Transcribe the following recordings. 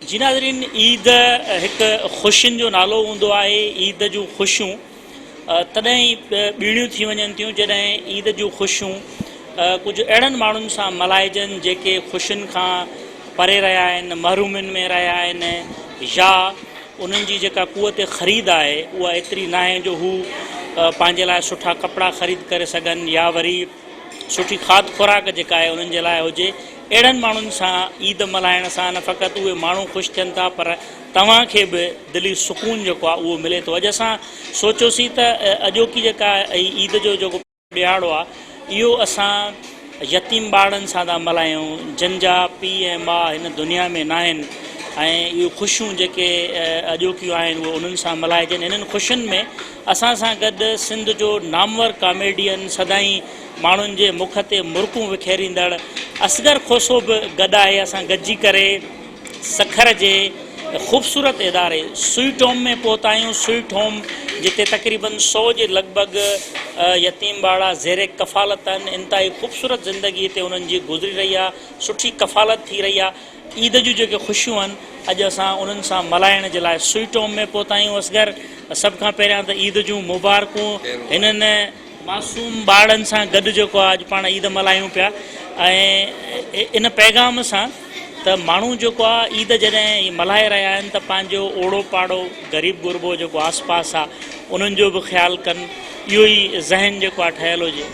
جي ناظرين عيد هڪ خوشين جو نالو هوندو آهي عيد جون خوشيون تڏهن ئي ٻيڻيون ٿي وڃن ٿيون جڏهن عيد جون خوشيون ڪجهه اهڙن ماڻهن سان ملهائجن جيڪي خوشين کان پري رهيا آهن محرومين ۾ رهيا آهن يا انهن جي جيڪا قوت خريد آهي اها ايتري ناهي جو هو پنهنجي لاء سٺا ڪپڙا خريد ڪري سگهن يا وري سٺي کاڌ خوراڪ جيڪا آهي انهن جي لاء هجي اهڙن ماڻهن سان عيد ملهائڻ سان نه فقط اهي ماڻهو خوش ٿين ٿا پر توهان کي به دلي سڪون جيڪو آهي اهو ملي ٿو. اڄ اسان سوچيوسين ته اڄوڪي جيڪا هي عيد جو جيڪو ڏهاڙو آهي اهو اسان يتيم ٻارڙن سان ٿا ملهايون جن جا پيء ۽ ماء هن دنيا ۾ ناهن ۽ اهي خوشيون جيڪي اڄوڪيون آهن اهي انهن سان ملهائجن انهن خوشين ۾ اسان سان گڏ سنڌ جو نامور ڪاميڊين سدائين ماڻهن جي مک تي مرڪون وکيريندڙ اصغر کوسو به گڏ آهي اسان گڏجي ڪري سکر جي خوبصورت اداري سوئٽ هوم ۾ پهتا آهيون سوئٽ هوم جتي تقريبن سو جي لڳ ڀڳ يتيم ٻارڙا زير ڪفالت آهن انتهائي خوبصورت زندگي هتي انهن جي گذري رهي آهي سٺي ڪفالت ٿي رهي آهي عيد جون جيڪي خوشيون آهن اڄ اسان انهن سان ملهائڻ جي لاء سوئٽ هوم ۾ پهتا آهيون اصغر سڀ کان پهريان ته عيد جون مبارڪون هنن معصوم ٻارڙن سان گڏ جيڪو آهي اڄ پاڻ عيد ملهايون پيا ۽ ان پيغام سان ته ماڻهو جيڪو آهي عيد جڏهن هي ملهائي رهيا آهن ته پنهنجو اوڙو پاڙو غريب غربو جيڪو آس پاس آهي انهن جو به خيال ڪن اهو ئي ذهن جيڪو آهي ٺهيل هجي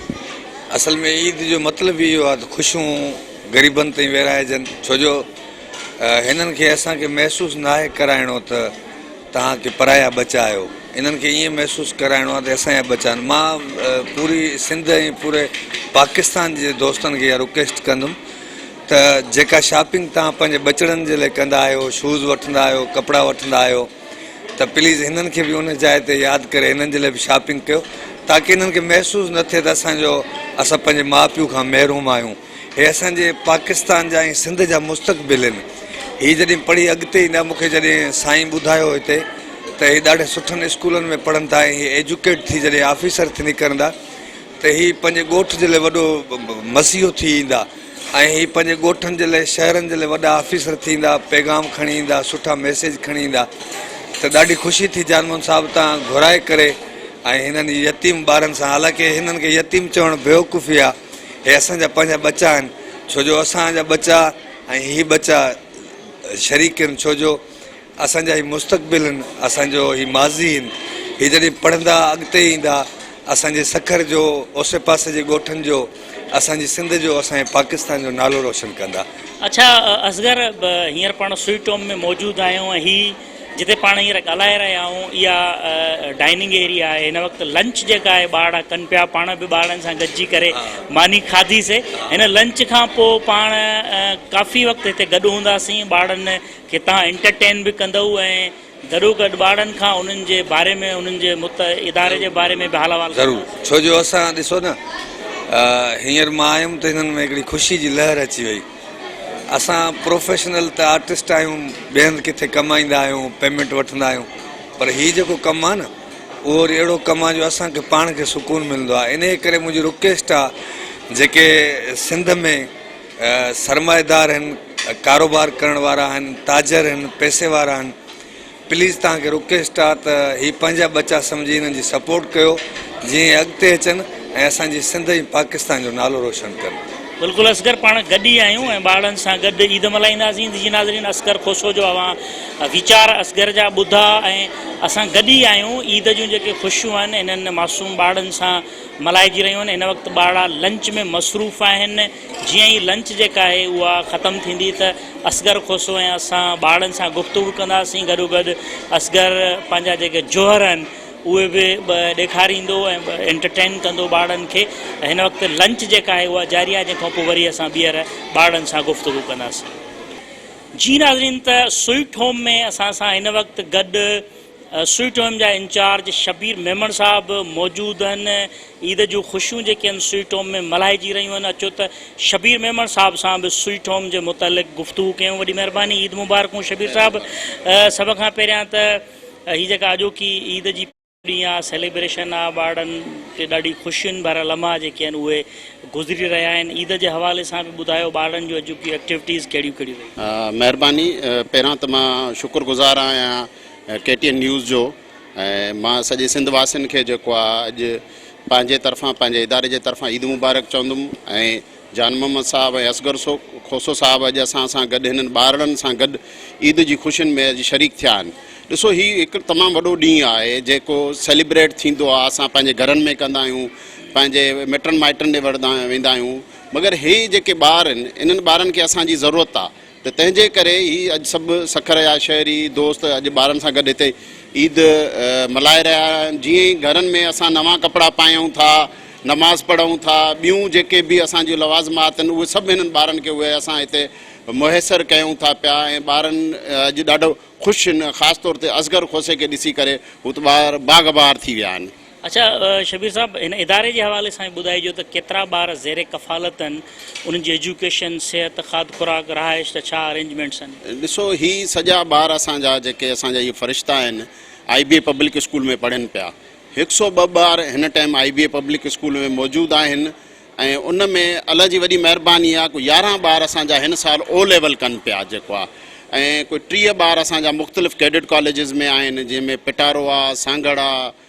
اصل ۾ عيد جو مطلب ئي اهو آهي ته خوشيون غريبن تائين ويرائجن ڇو جو هنن کي اسان کي محسوس ناهي ڪرائڻو ته توهان ڪي پرايا ٻچا آهيو انهن کي ائين محسوس ڪرائڻو آهي ته اي اسان جا ٻچا آهن مان پوري سنڌ ۽ پوري پاڪستان جي دوستن کي اها رڪويسٽ ڪندم ته جيڪا شاپنگ توهان پنهنجي ٻچڙن جي لاء ڪندا آهيو شوز وٺندا آهيو ڪپڙا وٺندا آهيو ته پليز هنن کي به ان جاء تي ياد ڪري هنن جي لاء به شاپنگ ڪيو تاڪي هنن کي محسوس نه ٿئي ته اسان جو اسان پنهنجي ماء پيء کان محروم آهيون هي اسان جي پاڪستان جا ۽ سنڌ جا مستقبل هن هي جڏهن پڙهي اڳتي ايندا مون کي جڏهن سائين ٻڌايو هتي ته هي ڏاڍي سٺن اسڪولن ۾ پڙهن ٿا ۽ هي ايجوڪيٽ ٿي جڏهن آفيسر ٿي نڪرندا ته هي پنهنجي ڳوٺ جي لاء وڏو مسيحو ٿي ايندا ۽ هي پنهنجي ڳوٺن جي لاء شهرن جي لاء وڏا آفيسر ٿي ايندا پيغام کڻي ايندا سٺا ميسيج کڻي ايندا ته ڏاڍي خوشي ٿي جان موهن صاحب تان گهرائي ڪري ۽ هنن يتيم ٻارن سان حالانڪه هنن کي يتيم چوڻ بيوقوفي آ هي اسان جا پنهنجا ٻچا آهن ڇو جو اسان جا ٻچا ۽ هي ٻچا شريڪ آهن ڇو جو اسان جا هي مستقبل هن، اسان جو هي ماضي هن، هي جڏهن پڙهندا، اڳتي ايندا، اسان جي سکر جو، اوسي پاسي جي ڳوٺن جو، اسان جي سنڌ جو، اسان جي پاڪستان جو نالو روشن ڪندا. اڇا اصغر هينئر پاڻ سوئٽ هوم ۾ موجود آهيون ۽ هي جتي پاڻ هينئر ڳالهائي رهيا آهيون اها ڊائننگ ايريا آهي هن وقت لنچ جيڪا آهي ٻارڙا ڪن پيا پاڻ به ٻارڙن سان گڏجي ڪري ماني کاڌي سي هن لنچ کان پوء پاڻ ڪافي وقت هتي گڏ هوندا سين ٻارڙن کي تان انٽرٽين به ڪندؤ ۽ گڏو گڏ ٻارڙن کان انهن جي باري ۾ انهن جي مت اداري جي باري ۾ به حال احوال ڪندؤ. ضرور ڇو جو اسان ڏسو نه هينئر مان آيم ته هنن ۾ هڪڙي خوشي جي لهر اچي وئي اسان پروفيشنل ته آرٽسٽ آهيون ٻئي هنڌ ڪٿي ڪم ايندا آهيون پيمينٽ وٺندا آهيون پر هي جيڪو ڪم آهي نه اهو وري اهڙو ڪم آهي جو اسان کي پاڻ کي سڪون ملندو آهي انهي ڪري منهنجي رڪيسٽ آهي جيڪي سنڌ ۾ سرمائيدار آهن ڪاروبار ڪرڻ وارا آهن تاجر آهن پئسي وارا آهن پليز تهان کي رڪويسٽ آ ته هي پنهنجا ٻچا سمجهي هنن جي سپورٽ ڪيو جيئن اڳتي اچن ۽ اسان جي سنڌ ۽ پاڪستان جو نالو روشن ڪن. بلڪل اصغر پاڻ گڏ ئي آهيون ۽ ٻارڙن سان گڏ عيد ملهائينداسين جي ناظرين اصغر کوسو جو اوهان ويچار اصغر جا ٻڌا ۽ اسان گڏ ئي آهيون عيد جون جيڪي خوشيون آهن انهن معصوم ٻارڙن سان ملهائجي رهيون آهن هن وقت ٻارڙا لنچ ۾ مصروف آهن جيئن ئي لنچ جيڪا آهي اها ختم ٿيندي ته اصغر کوسو ۽ اسان ٻارڙن سان گفتگو ڪنداسين گڏوگڏ اصغر پنهنجا جيڪي جوهر آهن اهي به ڏيکاريندو ۽ انٽرٽين ڪندو ٻارڙن کي هن وقت لنچ جيڪا آهي اها جاري آهي جنهن کان پوء وري اسان ٻيهر ٻارڙن سان گفتگو ڪنداسين جي ناظرين ته سوئٽ هوم ۾ اسان سان هن وقت گڏ سوئٽ هوم جا انچارج شبير ميمڻ صاحب به موجود هن عيد جون خوشيون جيڪي هن سوئٽ هوم ۾ ملهائجي رهيون هن اچو ته شبير ميمڻ صاحب سان به سوئٽ هوم جي متعلق گفتگو ڪيون وڏي مهرباني عيد مبارڪون شبير صاحب سڀ کان پهريان ته هي جيڪا اڄوڪي عيد جي ڏينهن آ سيليبريشن آ ٻارڙن کي ڏاڍي خوشين ڀريا لمحا جيڪي هن اهي گذري رهيا آهن عيد جي حوالي سان به ٻڌايو ٻارڙن جون اڄوڪيون ايڪٽيوٽيز ڪهڙيون ڪهڙيون رهيون. مهرباني پهريان ته مان شڪر گذار آهيان ڪي ٽي اين نيوز جو ۽ مان سڄي سنڌ واسين کي جيڪو آ اڄ پنهنجي طرفان پنهنجي اداري جي طرفان عيد مبارڪ چوندم ۽ جان محمد صاحب ۽ اصغر سو کوسو صاحب اڄ اسان سان گڏ هنن ٻارڙن سان گڏ عيد جي خوشين ۾ اڄ شريڪ ٿيا آهن ڏسو هي هڪ تمام وڏو ڏينهن آهي جيڪو سيليبريٽ ٿيندو آهي اسان پنهنجي گهرن ۾ ڪندا آهيون پنهنجي مٽن مائٽن ڏي وردا ويندا آهيون مگر هي جيڪي ٻار آهن انهن ٻارن کي اسان جي ضرورت آهي ته تنهن جي ڪري هي اڄ سڀ سکر جا شهري دوست اڄ ٻارن سان گڏ هتي عيد ملهائي رهيا آهن جيئن ئي گهرن ۾ اسان نوان ڪپڙا پايون ٿا نماز پڙهون ٿا ٻيون جيڪي به اسان جون لوازمات آهن اهي سڀ هنن ٻارن کي اهي اسان هتي مهيسر ڪيون ٿا پيا ۽ ٻارن اڄ ڏاڍو خوش آهن خاص طور تي اصغر کوسي کي ڏسي ڪري هو ته ٻار باغ بهار ٿي ويا آهن. اڇا شبير صاحب هن اداري جي حوالي سان به ٻڌائجو ته ڪيترا ٻار زير ڪفالت آهن انهن جي ايجوڪيشن صحت کاڌ خوراڪ رهائش جا ڇا ارينجمينٽس آهن. ڏسو هي سڄا ٻار اسان جا جيڪي اسان جا اهي فرشتا آهن I B A public school ۾ پڙهن پيا هڪ سئو ٻه ٻار هن time I B A public school ۾ موجود آهن ۽ ان ۾ الله جي وڏي مهرباني آهي ڪو يارهن ٻار اسان جا هن سال او ليول ڪن پيا جيڪو آهي ۽ ڪوئي ٽيهه ٻار اسان جا مختلف ڪيڊٽ ڪاليجز ۾ آهن جنهن ۾ پٽارو آهي سانگهڙ آهي.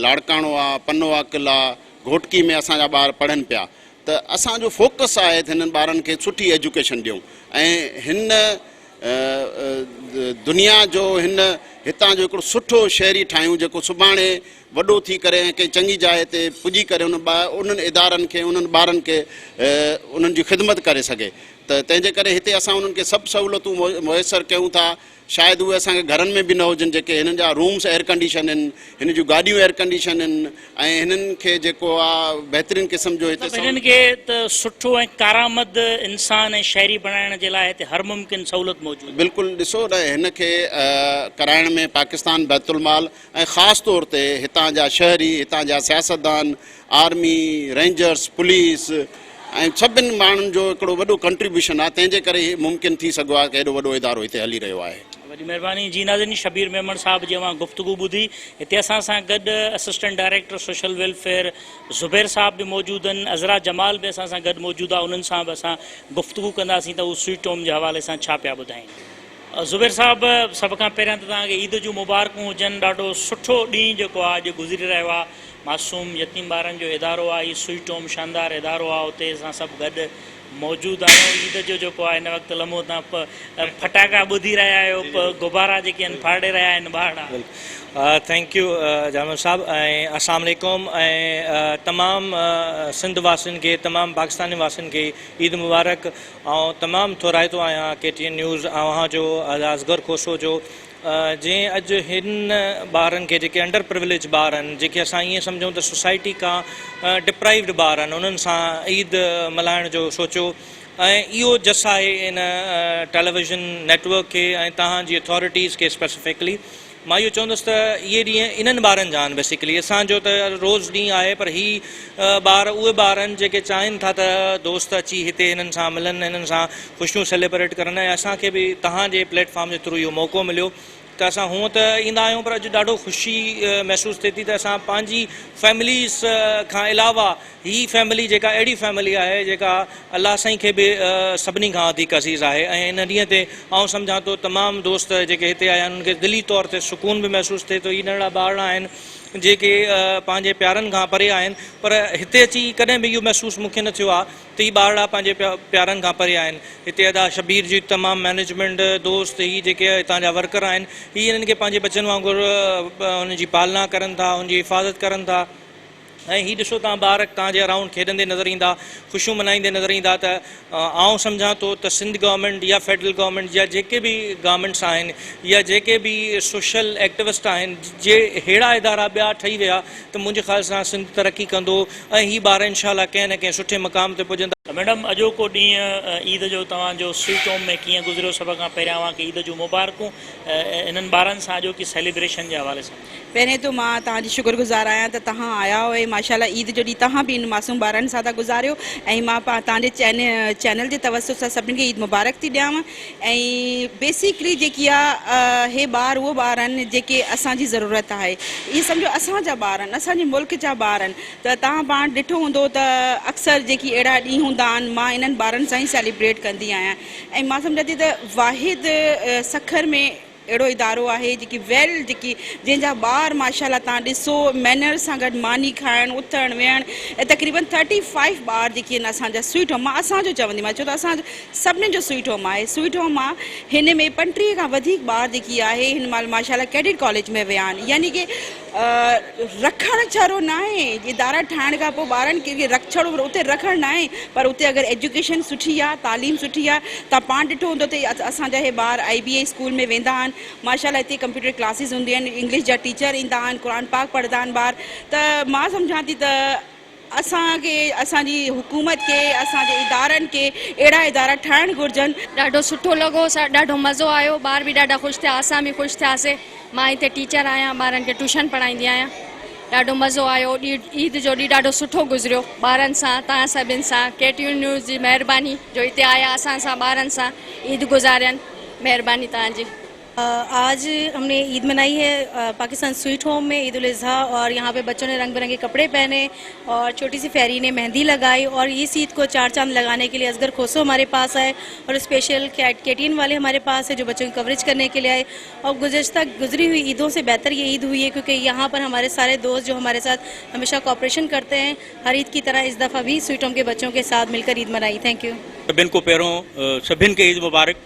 لاڙڪاڻو آ، پنو آ، قل آ، گهوٽڪي ۾ اسان جا ٻار پڙهن پيا ته اسان جو فوڪس آهي ته هنن ٻارن کي سٺي ايجوڪيشن ڏيون ۽ هن دنيا جو هن هتان جو هڪڙو سٺو شهري ٺاهيون جيڪو سڀاڻي وڏو ٿي ڪري ۽ ڪنهن چڱي جاء تي پڄي ڪري ان انهن ادارن کي انهن ٻارن کي انهن جي خدمت ڪري سگهي ته تنهن جي ڪري هتي اسان انهن کي سڀ سهولتون ميسر ڪيون ٿا. شايد اهي اسان کي گهرن ۾ به نه هجن جيڪي هنن جا رومس ايئرڪنڊيشن هن هن جون گاڏيون ايئرڪنڊيشن هن ۽ هنن کي جيڪو آ بهترين قسم جو هتي مطلب هنن کي ته سٺو ۽ ڪارآمد انسان ۽ شهري بڻائڻ جي لاء هتي هر ممڪن سهولت موجود آهي. بلڪل ڏسو نه هن کي ڪرائڻ ۾ پاڪستان بيت المال ۽ خاص طور تي هتان جا شهري، هتان جا سياستدان، آرمي، رينجرز، پوليس ۽ سڀن ماڻهن جو هڪڙو وڏو ڪنٽريبيوشن آهي تنهن جي ڪري هي ممڪن ٿي سگهيو آهي ته هيڏو وڏو ادارو هتي هلي رهيو آهي. وڏي مهرباني جي ناظرين شبير ميمڻ صاحب جي اوهان گفتگو ٻڌي هتي اسان سان گڏ assistant director social welfare Zubair صاحب به موجود آهن عذرا جمال به اسان سان گڏ موجود آهي انهن سان به اسان گفتگو ڪنداسين ته هو سوئٽ هوم جي حوالي سان ڇا پيا ٻڌائين. زبير صاحب سڀ کان پهريان ته توهان کي عيد جون مبارڪون هجن ڏاڍو سٺو ڏينهن جيڪو آ اڄ گذري رهيو آ معصوم يتيم ٻارن جو ادارو آ هي سوئٽ هوم شاندار ادارو آ اتي اسان سڀ گڏ موجود آهيون عيد جو جيڪو آ هن وقت لمحو تان پ ڦٽاڪا ٻڌي رهيا آهيو پ غبارا جيڪي آهن ڦاڙي رهيا آهن ٻارڙا. ٿينڪ يو جانور صاحب ۽ اسلام عليڪم ۽ تمام سنڌ واسين کي تمام پاڪستان واسين کي عيد مبارڪ. آئون تمام ٿورائتو آهيان ڪي ٽي اين نيوز اوهان جو اصغر کوسو جو جنهن اڄ هن ٻارن کي جيڪي انڊر پرويليج ٻار آهن جيڪي اسان ائين سمجهون ته سوسائٽي کان ڊپرائيوڊ ٻار آهن انهن سان عيد ملهائڻ جو سوچيو ۽ اهو جس آهي ان ٽيليويزن نيٽورڪ کي ۽ توهان جي اٿارٽيز کي اسپيسفڪلي مان اهو چوندس ته اهي ڏينهن انهن ٻارن جا آهن بيسيڪلي اسان جو ته روز ڏينهن آهي پر هي ٻار اهي ٻار آهن جيڪي چاهين ٿا ته دوست اچي هتي هنن سان ملن هنن سان خوشيون سيليبريٽ ڪرن ۽ اسان کي به توهان جي پليٽ فارم جي ٿرو اهو موقعو مليو ته اسان هونئن ته ايندا آهيون پر اڄ ڏاڍو خوشي محسوس ٿئي ٿي ته اسان پنهنجي فيمليز کان علاوه هي فيملي جيڪا اهڙي فيملي آهي جيڪا الله سائين کي به سڀني کان وڌيڪ عزيز آهي ۽ ان ڏينهن تي آئون سمجهان ٿو تمام دوست جيڪي هتي آيا آهن انهن کي دلي طور تي سڪون به محسوس ٿئي ٿو هي ننڍڙا ٻارڙا آهن جيڪي پنهنجي پيارن کان پري آهن پر هتي اچي ڪڏهن به اهو محسوس مون کي نه ٿيو آهي ته هي ٻارڙا پنهنجي پيارن کان پري آهن هتي ادا شبير جي تمام مينيجمينٽ دوست هي جيڪي هتان جا ورڪر آهن هي انهن کي پنهنجي ٻچن وانگر ان جي پالنا ڪرن ٿا ان جي حفاظت ڪرن ٿا ۽ هي ڏسو توهان ٻار توهان جي اراؤنڊ کيڏندي نظر ايندا، خوشيون ملهائيندي نظر ايندا ته آئون سمجهان ٿو ته سنڌ گورنمينٽ يا فيڊرل گورنمينٽ يا جيڪي به گورنمينٽس آهن يا جيڪي به سوشل ايڪٽوسٽ آهن جي ههڙا ادارا ٻيا ٺهي ويا ته منهنجي خيال سان سنڌ ترقي ڪندو ۽ هي ٻار انشاء الله ڪنهن نه ڪنهن سٺي مقام تي پڄندا. ميڊم اڄوڪو ڏينهن عيد جو توهان جو سوئٽ هوم ۾ ڪيئن گذريو سڀ کان پهريان اوهان کي عيد جون مبارڪون انهن ٻارن سان اڄوڪي سيليبريشن جي حوالي سان. پهرين ته مان توهان جي شڪر گذار آهيان ته توهان آيا ۽ ماشاءالله عيد جو ڏينهن توهان به انهن معصوم ٻارڙن سان ٿا گذاريو ۽ مان توهان جي چينل جي توسط سان سڀني کي عيد مبارڪ ٿي ڏيانو ۽ بيسڪلي جيڪي آ هي ٻار اهي ٻار آهن جيڪي اسان جي ضرورت آهي ائين سمجهو اسان جا ٻار آهن اسان جي ملڪ جا ٻار آهن ته توهان پاڻ ڏٺو هوندو ته اڪثر جيڪي اهڙا ڏينهن هوندا آهن مان انهن ٻارڙن سان ئي سيليبريٽ ڪندي آهيان ۽ مان سمجهان ٿي ته واحد سکر ۾ اهڙو ادارو آهي جيڪي ويل جيڪي جنهن جا ٻار ماشاءالله تان ڏسو مينرز سان گڏ ماني کائڻ اٿڻ ويهڻ ۽ تقريبن ٿرٽي فائيو ٻار جيڪي آهن اسان جا سوئيٽ هوم مان اسان جو چوندي مان ڇو ته اسان سڀني جو سوئيٽ هوم آهي سوئيٽ هوم مان هن ۾ پنٽيهه کان وڌيڪ ٻار جيڪي آهي هن مال ماشاءالله ڪيڊٽ ڪاليج ۾ ويا آهن يعني ڪي رکڻ ڇڙو ناهي ادارا ٺاهڻ کان پوء ٻارن کي جي رک ڇڙو اتي رکڻ ناهي پر اتي اگر ايجوڪيشن سٺي آهي تعليم سٺي آهي تان پاڻ ڏٺو هوندو ته اسان جا هي ٻار آئي بي اي اسڪول ۾ ويندا آهن ماشاءالله اتي ڪمپيوٽر ڪلاسز هونديون آهن انگلش جا ٽيچر ايندا آهن قرآن پاڪ پڙهندا آهن ٻار ته مان سمجهان ٿي ته اسان کي اسان جي حڪومت کي اسان جي ادارن کي اهڙا ادارا ٺاهڻ گهرجن. ڏاڍو سٺو لڳو سر ڏاڍو مزو آيو ٻار به ڏاڍا خوش ٿيا اسان به خوش ٿياسي مان هتي ٽيچر آهيان ٻارن کي ٽيوشن پڙهائيندي آهيان ڏاڍو مزو آيو عيد جو ڏينهن ڏاڍو سٺو گذريو ٻارن سان توهان سڀن سان ڪي ٽي وي نيوز جي مهرباني جو هتي آيا اسان سان ٻارن سان عيد گذارين مهرباني توهان جي. آج هم ني عيد منائي هي پاڪستان سويٽ هوم مين عيد الاضحا اور يهان پي بچو ني رنگ برنگي ڪپڙي پهني اور ڇوٽي سي فيري ني مهندي لگائي اور اس عيد کو چار چاند لگاني ڪي لئي اصغر کوسو هماري پاس آئي اور اسپيشل کيٽ ڪيٽين والي هماري پاس هي جو بچو ڪي ڪوريج ڪرني ڪي لئي آئي اور گذشته گذري هئي عيدون سي بهتر يه عيد هئي هي ڪيو ڪي يهان پر هماري ساري دوست جو هماري ساٿ هميشه ڪوپريشن ڪرتي هي هر عيد ڪي طرح اس دفعه بهي سويٽ هوم ڪي بچو ڪي ساٿ مل ڪر عيد منائي ٿينڪ يو سڀين کون پهريون سڀين کي عيد مبارڪ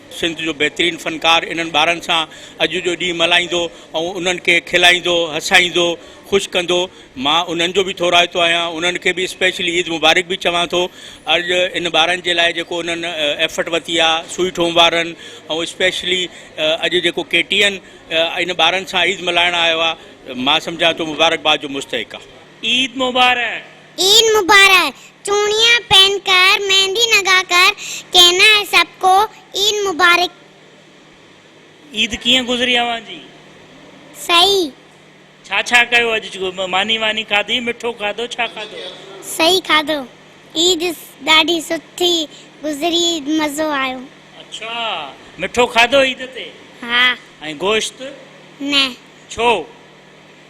سنڌ جو بهترين فنڪار انهن ٻارن سان اڄ جو ڏينهن ملهائيندو ۽ انهن کي کلائيندو، هسائيندو، خوش ڪندو. مان انهن جو به ٿورائتو آهيان، انهن کي به اسپيشلي عيد مبارڪ به چوان ٿو. اڄ ان ٻارن جي لاء جيڪو انهن ايفٽ ورتي آهي سوئي ٺوم وارن ۽ اسپيشلي اڄ جيڪو ڪي ٽي اين ان ٻارن سان عيد ملهائڻ آيو آهي مان سمجهان ٿو مبارڪباد جو مستحق آهي. عيد مبارڪ. عيد مبارڪ چوڻيا پين ڪر ميندي نگا ڪر ڪينا هي سب ڪو عيد مبارڪ. عيد ڪيئن گذري اوهان جي؟ صحيح. ڇا ڇا ڪيو اڄ ماني واني کاڌي مٺو کاڌو ڇا کاڌو؟ صحيح کاڌو عيد ڏاڍي سٺي گذري مزو آيو. اڇا مٺو کاڌو عيد تي؟ ها. ۽ گوشت؟ نه. ڇو؟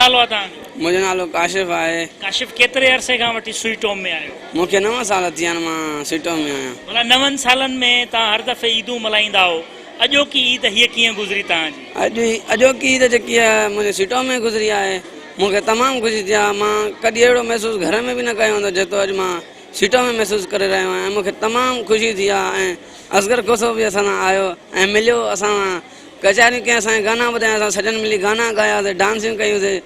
نالو آ توهان جو؟ منهنجو نالو ڪاشف آهي. ڪاشف ڪيتري عرصي کان وٺي سوئيٽ هوم ۾ آهيو؟ مون کي نو سال ٿيا آهن مان سوئيٽ هوم ۾ آهيان. ڀلا نون سالن ۾ توهان هر دفعي عيدون ملهائيندا هئو اڄوڪي عيد هيء ڪيئن گذري توهان جي؟ اڄ هي اڄوڪي عيد جيڪي آهي منهنجي سوئيٽ هوم ۾ گذري آهي مون کي تمام خوشي ٿي آهي مان ڪڏهن اهڙو محسوس گهر ۾ به نه ڪيو هوندو جيترو اڄ مان سوئيٽ هوم ۾ محسوس ڪري رهيو آهيان ۽ مون کي تمام خوشي ٿي آهي ۽ اصغر کوسو به اسان سان آيو ۽ مليو اسان سان ڪچهريون ڪياسين، گانا ٻڌاياسين، سڄڻ ملي گانا ڳاياسين، ڊانسيون ڪيوسين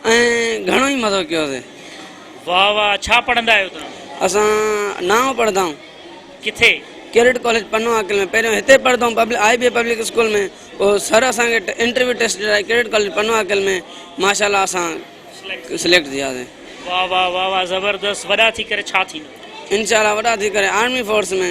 ۽ گهڻو ئي مزو ڪيوسين. واهه واهه ڇا پڙهندا آهيو توهان؟ اسان نائون پڙهندا آهيون. ڪٿي؟ ڪيڊٽ ڪاليج پنو عاقل ۾ پهريون هتي پڙهندا آهيون آء بي پبلڪ اسڪول ۾ پوء سر اسان کي انٽرويو ٽيسٽ ڏيرائي ڪيڊٽ ڪاليج پنو عاقل ۾ ماشاء الله اسان سليڪٽ ٿياسين. واهه واهه واهه واهه زبردست وڏا ٿي ڪري ڇا ٿيندا؟ انشاء الله وڏا ٿي ڪري آرمي فورس ۾.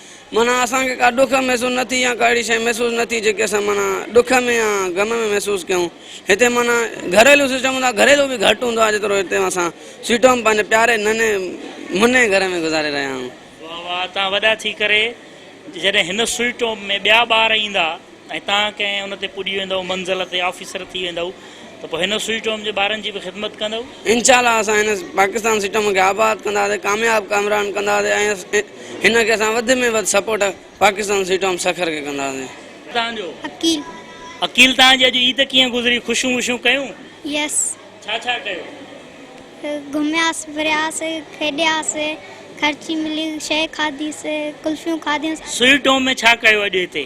معنيٰ اسان کي ڪا ڏک محسوس نه ٿي يا ڪا اهڙي شيء محسوس نه ٿي جيڪي اسان معنيٰ ڏک ۾ يا غم ۾ محسوس ڪيون. هتي معنيٰ گهريلو سسٽم هوندو آهي گهريلو به گهٽ هوندو آهي جيترو هتي اسان سيٽون ۾ پنهنجي پياري ننهن منهن گهر ۾ گذاري رهيا آهيون. واهه واهه توهان وڏا ٿي ڪري جڏهن هن سوئٽ هوم ۾ ٻيا ٻار ايندا. ۽ تان ڪنهن ان تي پڄي ويندؤ، منزل تي آفيسر ٿي ويندؤ ته پوء هن سوئي ٽوم جي ٻارن جي به خدمت ڪندؤ. انشاء الله اسان هن پاڪستان سئي ٽوم کي آباد ڪنداسي ڪامياب ڪامران ڪنداسي ۽ هن کي اسان وڌ ۾ وڌ سپورٽ پاڪستان سئي ٽوم سکر کي ڪنداسي. تان جو. عقيل. عقيل تان جي اڄ عيد ڪيئن گذري خوشيون وشيون ڪيون؟ يس. ڇا ڇا ڪيو؟ گهمياس ڦرياس کيڏياس خرچي ملي شي کاڌي سي ڪلفيون کاڌيون سي. سئي ٽوم ۾ ڇا ڪيو اڄ هتي؟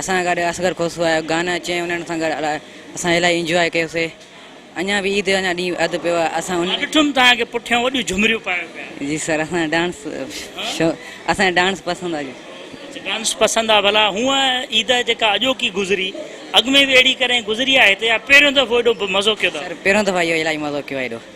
اسان گڏ اصغر کوسو آيو گانا چين انهن سان گڏ اسان الائي انجواء ڪيوسي اڃان به عيد اڃان ڏينهن اڌ پيو آهي اسان ان ڏٺم توهان کي پٺيان وڏيون جهمريون پايو پيا آهيو. جي سر اسان ڊانس شو اسان کي ڊانس پسند آ جي. اچ ڊانس پسند آ ڀلا هونء عيد جيڪا اڄوڪي گذري اڳ ۾ به اهڙي ڪڏهن گذري آ هتي يا پهريون دفعو ايڏو مزو ڪيو ٿا. سر پهريون دفعو اهو الائي مزو ڪيو آ ايڏو.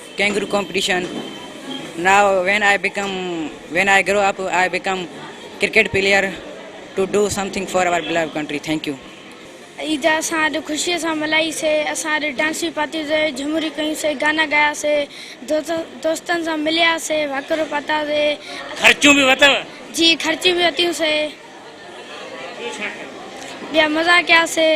Kangaroo competition, now when I become when I grow up I become cricket player to do something for our beloved country thank you. Eid اسان اڄ خوشيء سان ملهائي سي، اسان اڄ ڊانس به پاتيون سي، جهومريون ڪيون سي، گانا ڳايا سي، دوستن سان مليا سي، وهڪرو پاتا سي. خرچيون به وتئو؟ جي خرچيون به وتيون سي. ٻيو ڇا ڪيو؟ ٻيا مزا ڪياسي.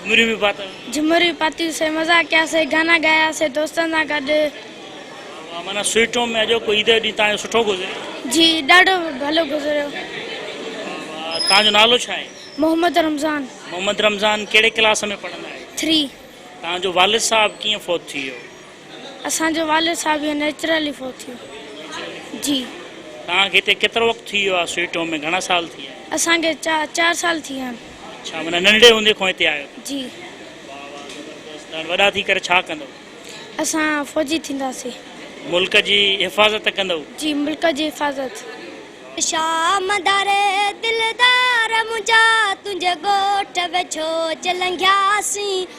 جھمريون به پاتيون. جھمريون پاتيون سي مزا ڪياسي گانا گايا سي دوستن سان گڏ. واھ واھ معنيٰ سوئيٽ ٽوم ۾ اڄوڪو عيد جو ڏينھن تنھنجو سٺو گذريو. جي ڏاڍو ڀلو گذريو. واھ واھ تنھنجو نالو ڇا آھي؟ محمد رمضان. محمد رمضان ڪھڙي ڪلاس ۾ پڙھندا آھيو؟ ٿري. تنھنجو والد صاحب ڪيئن فوت ٿي ويو؟ اسان جو والد صاحب هي نيچرلي فوت ٿيو جي. توهان کي هتي ڪيترو وقت ٿي ويو آهي سوئيٽ هوم ۾ گهڻا سال ٿي ويا آهن. اسان کي چار سال ٿي ويا آهن. اڇا معنيٰ ننڍڙي هوندي کان هتي آيو ٿا. جي. واهه واهه زبردست هاڻ وڏا ٿي ڪري ڇا ڪندو. اسان فوجي ٿينداسين. ملڪ جي حفاظت ڪندو. جي ملڪ جي حفاظت. شام داري دلدار منهنجا تنهنجي ڳوٺ ويجهو چه لنگهياسين.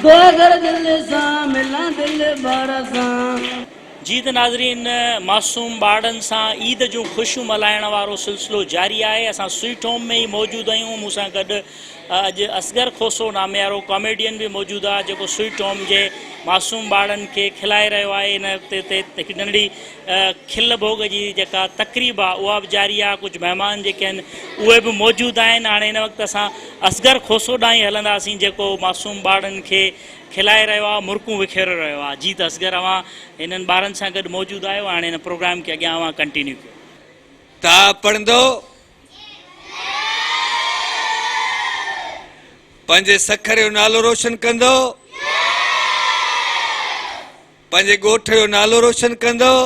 ڪو اگر دل سان ملان دل بر سان. جي ته ناظرين معصوم ٻارڙن سان عيد جون خوشيون ملهائڻ وارو سلسلو جاري آهي اسان سوئيٽ هوم ۾ ئي موجود آهيون مون سان گڏ اڄ اصغر کوسو ناميارو ڪاميڊين به موجود آهي جيڪو سوئيٽ هوم جي معصوم ٻارڙن کي کلائي رهيو آهي ان تي تي هڪ ننڍڙي کل ڀوڳ جي جيڪا تقريب آ اها به جاري آ ڪجهه مهمان جيڪي آهن اهي به موجود آهن هاڻي هن وقت اسان اصغر کوسو ڏانهن ئي هلنداسين جيڪو معصوم ٻارڙن کي کلائي رهيو آ مرڪون وکيري رهيو آ جي ته اصغر اوهان هنن ٻارن سان گڏ موجود آهيو هاڻي هن پروگرام کي اڳيان اوهان ڪنٽينيو ڪيو. ته آء پڙهندو پنهنجي سکر جو نالو روشن ڪندو. پنهنجي ڳوٺ جو نالو روشن ڪندؤ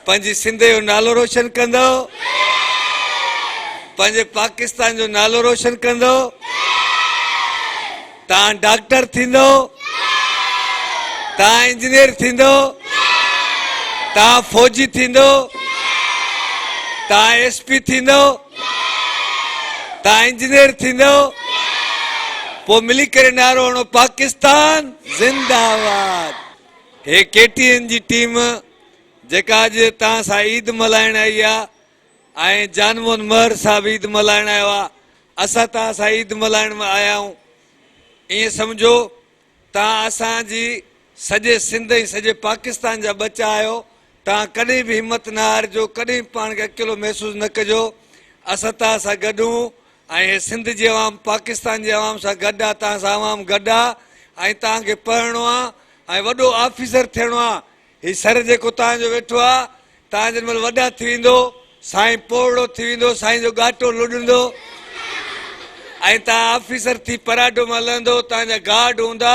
پنهنجي سنڌ جو نالو روشن ڪندؤ پنهنجي پاڪستان جو نالو روشن ڪندؤ تان ڊاڪٽر ٿيندؤ تان انجنيئر ٿيندؤ تان فوجي ٿيندؤ تان ايس پي ٿيندؤ تان انجنيئر ٿيندؤ پوء ملي ڪري نعرو هڻو پاڪستان زنده آباد هي ڪي ٽي اين جي ٽيم جيڪا اڄ تان سان عيد ملائڻ آئي آ ۽ جان مون مهر صاحب عيد ملائڻ آيو آ اسا تان سان عيد ملائڻ ۾ آيا آئون ائين سمجھو تان اسان جي سڄي سنڌ ۽ سڄي پاڪستان جا ٻچا آهيو تان ڪڏهن به همت نه هارجو ڪڏهن به پاڻ کي اڪيلو محسوس نه ڪجو اسان تان سان گڏ هون ۽ هي سنڌ جي عوام پاڪستان جي عوام سان گڏ آ تان سان عوام گڏ آ ۽ تان کي پڙهڻو آ ۽ وڏو آفيسر ٿيڻو آ هي سر جيڪو تان جو ويٺو آ، تان جنهن مهل وڏا ٿي ويندو، سائين پوڙهو ٿي ويندو، سائين جو ڳاٽو لڏندو ۽ تان آفيسر ٿي پراڊو مان لهندو، تان جا گارڊ هوندا،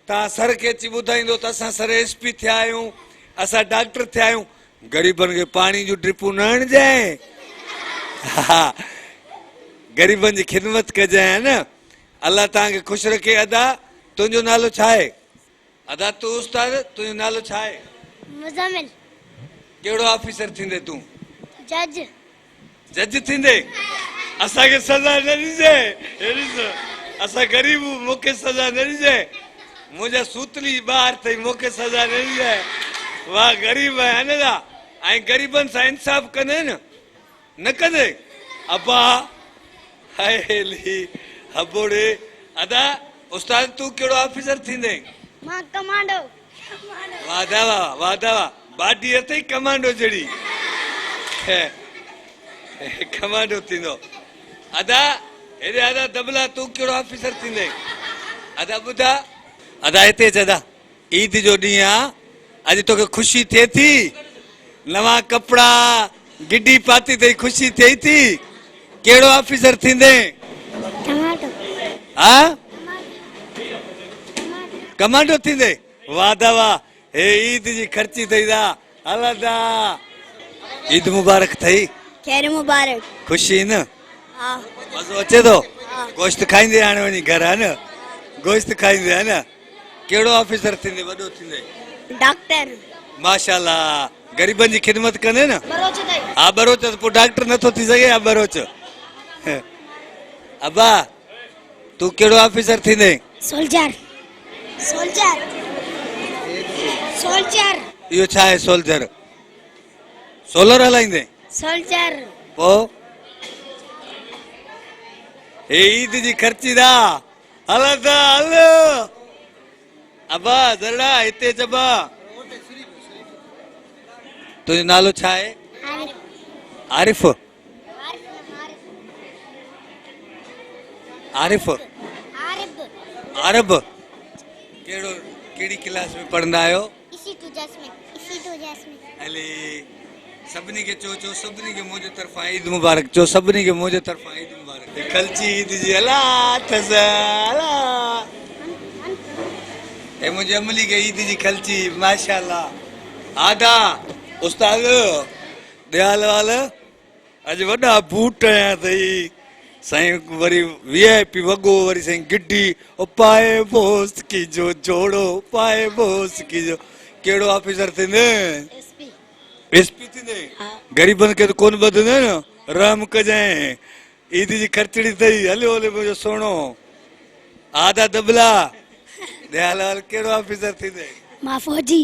تان سر کي اچي ٻڌائيندو ته اسان سر ايس پي ٿيا آهيون، اسان ڊاڪٽر ٿيا آهيون، غريبن کي پاڻي جون ڊرپون نه هڻجانء ها غريبن جي خدمت ڪجانء ها نه. الله تان کي خوش رکي ادا تنهنجو نالو ڇا آهي؟ ادا تون استاد تنهنجو نالو ڇا آهي؟ مزمل. ڪهڙو آفيسر ٿيندي تون؟ جج. جج ٿيندي؟ اسان کي سزا نه ڏجي. هي ڏس اسان غريب هون مون کي سزا نه ڏجي. منهنجا سوتلي جي ٻه هٿ ٿئي مون کي سزا نه ڏجي. مان غريب آهيان ادا ۽ غريبن سان انصاف ڪندين. نه ڪندي ابا هيلي هٻوڙي ادا استاد تون ڪهڙو آفيسر ٿيندين. مان ڪمانڊو. واه دا واه واه دا واه باڊي اٿئي ڪمانڊو جھڙي ڪمانڊو ٿيندو ادا هيڏي ادا دبلا تون ڪهڙو آفيسر ٿيندين ادا ٻڌا ادا هتي اچ ادا. عيد جو ڏينهن آ اڄ توکي خوشي ٿئي ٿي نوان ڪپڙا گڊي پاتي تئي خوشي ٿئي ٿي ڪهڙو آفيسر ٿيندين ٽماٽو ها ٽماٽو ٿيندي واھ دا واھ هي عيد جي خرچي ٿئي ٿا الدا عيد مبارڪ ٿئي. خير مبارڪ. خوش ٿي نه. ها. مزو اچي ٿو. ها. گوشت کائيندي هاڻي وڃي گهر ها نه. گوشت کائيندي ها نه. ڪهڙو آفيسر ٿيندي وڏو ٿيندي. ڊاڪٽر. ماشاء الله غريبن جي خدمت ڪندي نه. ٻروچ ٿئي. ها ٻروچ پوء ڊاڪٽر نٿو ٿي سگهي ها ٻروچ. ابا. تون ڪهڙو آفيسر ٿيندين؟ سولجر سولجر سولجر اهو ڇا آهي سولجر؟ سولر هلائيندين؟ سولجر پوء هي عيد جي خرچي دا هل ادا هل ابا ذرڙا هتي اچ ابا تنهنجو نالو ڇا آهي؟ عارف عارف عارف عرب ڪهڙو ڪهڙي ڪلاس ۾ پڙهندا آهيو هلي سڀني کي چو چو سڀني کي منهنجي طرفان عيد مبارڪ چو سڀني کي منهنجي طرفان عيد مبارڪ کلچي عيد جي هلا اٿس هلا اي منهنجي عملي کي عيد جي کلچي ماشاءالله آدا استاد ديال وال اڄ وڏا بوٽ هنيا اٿئي سائين وري وي آء پي وڳو وري سائين گڊي او پائي بوس ڪي جو جوڙو پائي بوس ڪي جو ڪهڙو آفيسر ٿيندي ايس پي ايس پي ٿيندي غريبن کي ته ڪون ٻڌندي نه رحم ڪجائين عيد جي خرچڙي اٿئي هليو هليو منهنجو سهڻو آدا دبلا ديال وال ڪهڙو آفيسر ٿيندي مان فوجي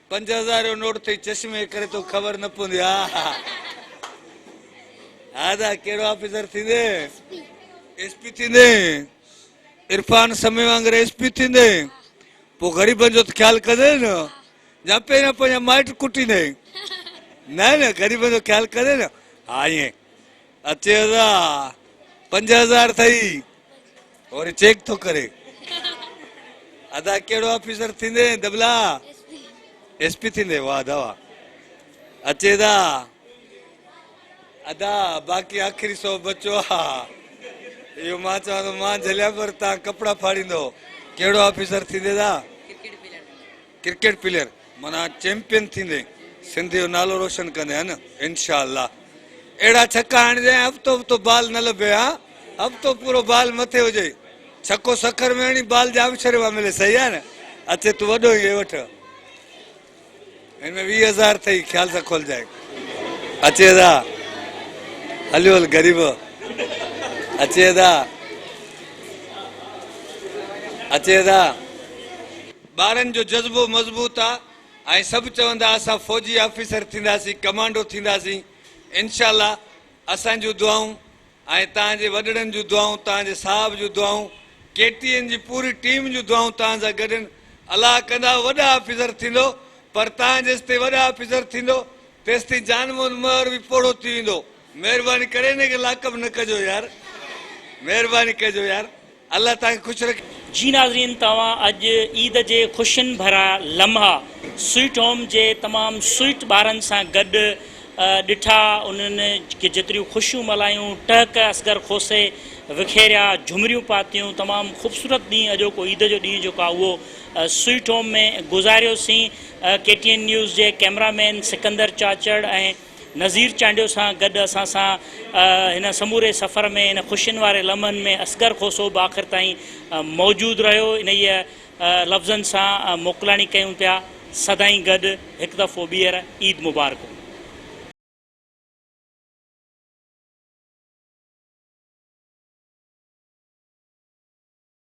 پنج هزار جو نوٽ ٿئي چشمي ڪري توکي خبر نه پوندي ها ها ها دا ڪهڙو آفيسر ٿيندي ايس پي ٿيندي عرفان سمي وانگر ايس پي ٿيندي پو غريبن جو ته خيال ڪندي نه جا پهريان پنهنجا مائٽ ڪٽيندي نه نه غريبن جو خيال ڪندي نه ها ائين اچي هزار پنج هزار ٿئي وري چيڪ ٿو ڪري ادا ڪهڙو آفيسر ٿيندي دبلا ايس پي ٿيندي واھ ادا واھ اچي دا ادا باقي آخري سو بچو آ اهو مان چوان ٿو مان جھليا پر تان ڪپڙا ڦاڙيندو ڪهڙو آفيسر ٿيندي دا ڪرڪيٽ پليئر معنيٰ چيمپين ٿيندين سنڌ جو نالو روشن ڪندين ها نه انشاء الله اهڙا ڇڪا هڻجي ۽ هفتو هفتو بال نه لڀي ها هفتو پورو بال مٿي هجي ڇڪو سکر ۾ هڻي بال ڄامشوري مان ملي صحيح آهي نه اچي تون وڏو هين وٺ هن ۾ ويهه هزار اٿئي خيال سان کولجائين اچي ادا هليو هل غريب اچي ادا اچي ادا ٻارن جو جذبو مضبوط آ ۽ سڀ چوندا اسان فوجي آفيسر ٿينداسين ڪمانڊو ٿينداسين انشاء الله اسان جون دعائون ۽ تان جي وڏڙن جون دعائون تان جي صاحب جون دعائون ڪي ٽي اين جي پوري ٽيم جون دعائون تان سان گڏن الله ڪندا وڏا آفيسر ٿيندو پر تان جيستائين وڏا آفيسر ٿيندو تيستائين جان موهن مهر به پوڙهو ٿي ويندو مهرباني ڪري هن کي لاڪ اپ نه ڪجو يار مهرباني ڪجو يار. الله تانکي خوش رکي. جي ناظرين توهان اڄ عيد جي خوشين ڀرا لمحا سوئٽ هوم جي تمام سوئٽ ٻارن سان گڏ ڏٺا انهن کي جيتريون خوشيون ملايون ٽهڪ اصغر کوسي وکيريا جهمريون پاتيون تمام خوبصورت ڏينهن اڄوڪو عيد جو ڏينهن جيڪو آهي اهو سوئٽ هوم ۾ گذاريوسين ڪي ٽي اين نيوز جي ڪيمرا مين سڪندر چاچڙ ۽ نظير چانڊيو سان گڏ اسان سان هن سموري سفر ۾ ان خوشين واري لمحن ۾ اصغر کوسو به آخر تائين موجود رهيو انهيء لفظن سان موڪلاڻي ڪيون پيا سدائين گڏ هڪ دفعو ٻيهر عيد مبارڪون.